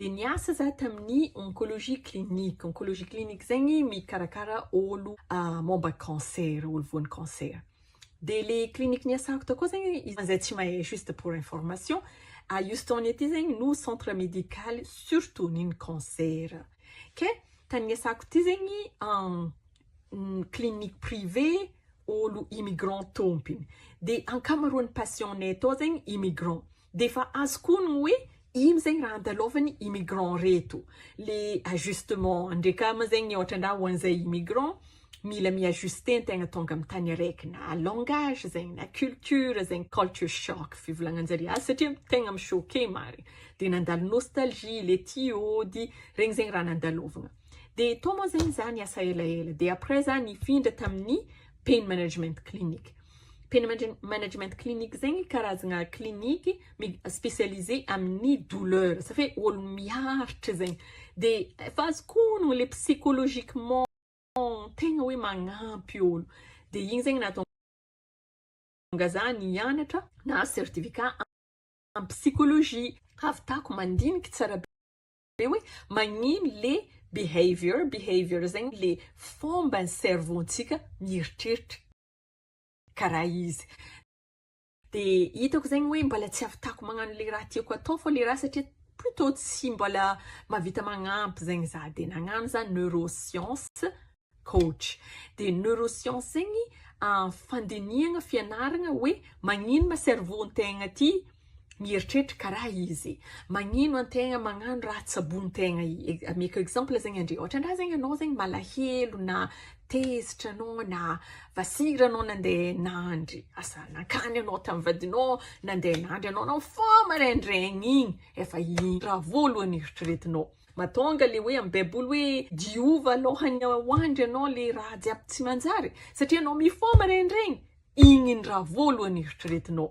Dia niasa za tamin'ny oncologie clinique. Oncologie clinique zay ny mikarakara olo momba cancer, olo voan'ny cancer. Dia le clinique niasako tao koa zegny, izay tsy mahay juste pour information, à Houston aty zegny no centre médical surtout ny cancer. Ke tany niasako ty zegny clinique privé olo immigrant tompiny. Dia ankamaroan'ny patients-nay tao zegny immigrant. Dia efa azo koa ny hoe ino zegny raha andalaovany immigrant reto le ajustement ndre ka ma zegny ohatra ndra ho an'izay immigrant mila mi ajuster ny tegna tonga amin'ny tany araiky na langage zegny na culture zegny culture shock fivolagnanjare azy satria tegna mi choquer marigny de nandalo nostalgie le tia ody regny zegny raha nandalovagna de tao moa zegny za niasa elaela de après za nifindra tamin'ny pain management clinic Pain management clinic zegny karazagna clinique mi-specialiser amin'ny douleur, zay hoe olo miaritra zegny, de efa azoko onogno le psychologiquement tegna hoe magnampy olo, de igny zegny nahatonga za nianatra nahazo certificat en psychologie, ahavitako mandiniky tsara be hoe magnino le behavior, behavior zegny le fomban'ny cerveau-ntsika mieritreritra. karaha izy dia hitako zegny hoe mbala tsy ahavitako magnano le raha tiako atao fô le raha satria plutôt tsy mbala mahavita magnampy zegny za dia nagnano za neuroscience coach dia neuroscience zegny fandinihagna fianaragna hoe magnino ma cerveau ntegna ty Mieritreritra karaha izy magnino antegna magnano raha tsabon'tegna ameko exemple zegny andre ohatra ndra zegny anao zegny malahelo na tezitra anao na vasira anao nande nandry asa nankany anao tamy vadinao nande nandry anao anao fô maraindraigny igny efa igny raha voalohany eritreretinao matonga le hoe amy baiboly hoe diova alohan'ny hoandry anao le raha jiaby tsy manjary satria anao mifoha maraindraigny igny ny raha voalohany eritreretinao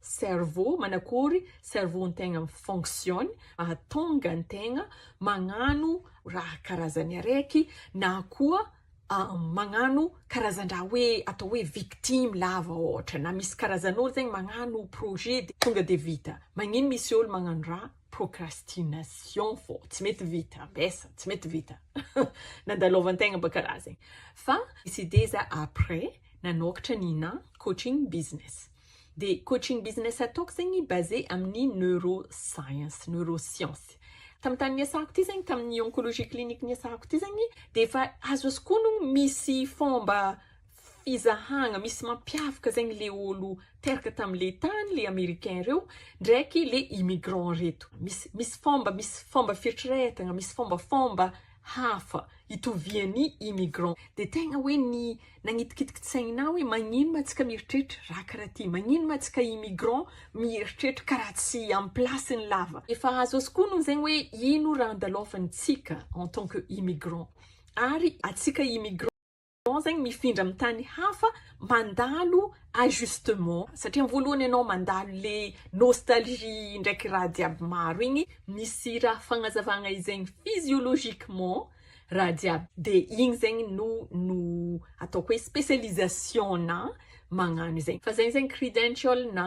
Cerveau, manakory cerveau ntegna mi-fonctionne mahatonga antegna magnano raha karazany araiky na koa magnano karazan-draha hoe atao hoe victime lava ohatra na misy karazan'olo zegny magnano projet de tonga de vita, magnino misy olo magnano raha procrastination fô tsy mety vita, ambesa tsy mety vita nandalovantegna baka raha zegny fa décider za après nanôkatra Nina coaching business. Dia coaching business ataoko zegny basé amin'ny neuro science, neuroscience. Tamin'ny tany niasako ity zegny, tamin'ny oncologie clinique niasako ity zegny, dia efa azoazoko honogno misy fomba fizahagna, misy mampiavaka zegny le olo teraka tamin'le tany, le americain reo, ndraiky le immigrant reto. Misy, misy fomba, misy fomba fieritreretagna, misy fombafomba. hafa itovian'ny immigrant dia tegna hoe ny nagnitikitiky saina hoe magnino ma tsika mieritreritra raha karaha ty, magnino ma tsika immigrant mieritreritra karaha tsy am place ny lava, efa azo askono zegny hoe ino raha andalovantsika en tant que immigrant ary atsika immigrant. Ianao zegny mifindra amin'ny tany hafa mandalo ajustement satria ny voalohany ianao mandalo le nostalgie ndraiky raha jiaby maro igny misy raha fagnazavagna izegny physiologiquement raha jiaby de igny zegny no no ataoko hoe specialisation-na magnano izegny fa zay zegny credential-na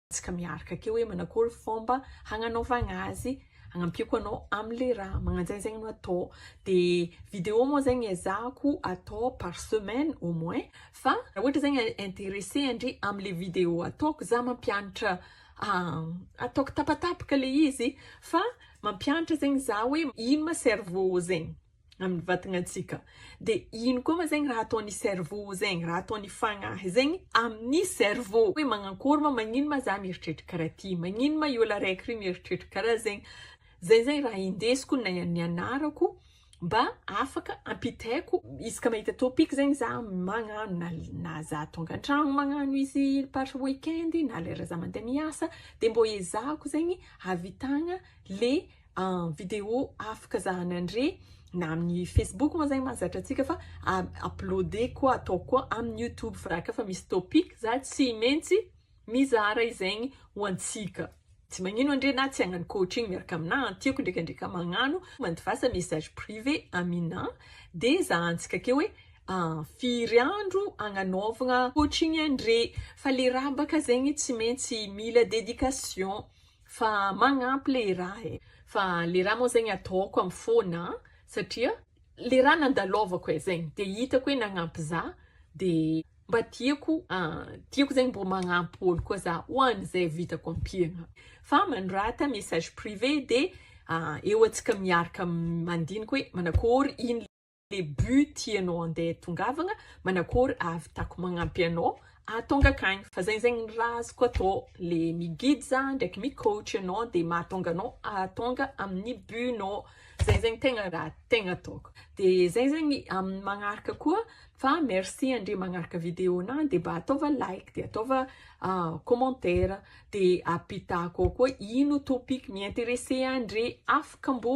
tsika miarka akeo hoe manakory fomba hagnanaovagna azy hagnampiako anao amle raha magnanjegny zegny no atao de video moa zegny ezahako atao par semaine au moins fa raha ohatra zegny interesse andre amle video ataoko za mampianatra ataoko tapatapaka le izy fa mampianatra zegny za hoe ino ma cerveau zegny amin'ny vatanantsika. Dia ino koa ma zegny raha ataon'ny cerveau zegny, raha ataon'ny fagnahy zegny amin'ny cerveau. Hoe magnakôry ma, magnino ma za mieritreritra karaha ty, magnino ma i ôlo araiky ry mieritreritra karaha zegny. Zay zegny raha indesiko na nianarako mba afaka ampitaiko isaka mahita topic zegny za magnano na za tonga an-tragno magnano izy par week-end na lera za mandeha miasa dia mbô ezahako zegny hahavitagna le en vidéo afaka zahany andre na amin'ny Facebook moa zay mahazatra antsika fa uploader koa atao koa amin'ny YouTube fa raha ka fa misy topic za tsy maintsy mizara izaigny ho antsika tsy magnino andre na tsy hagnano coaching miaraka aminà tiako ndraikandraika magnano mandivasa message privé aminà de zahantsika ke hoe ah, firy andro agnanaovagna coaching andre fa le rabaka zegny tsy maintsy mila dedication Fa magnampy le rà e. Fa le rà moa zegny ataoko am fôna an, satria le rà nandalôvako e, zegny de hitako hoe nagnampy za de mba tiako tiako zegny mbô magnampy ôlo koa za ho an ze vitako ampiagna, fa manorata message privé de eo atsika miaraka mandiniky hoe manakôry in. le but tianao handeha tongavagna manakory ahavitako magnampy anao ahatonga akagny fa zegny zegny ny raha azoko atao le mi guide za ndraiky mi coach anao de mahatonga anao ahatonga amin'ny but nao zegny zegny tegna raha tegna ataoko de zegny zegny amin'ny magnaraka koa fa merci andre magnaraka video na de mba ataova like de ataova ah, commentaire de apitako ao koa ino topic mi-interesse andre afaka mbo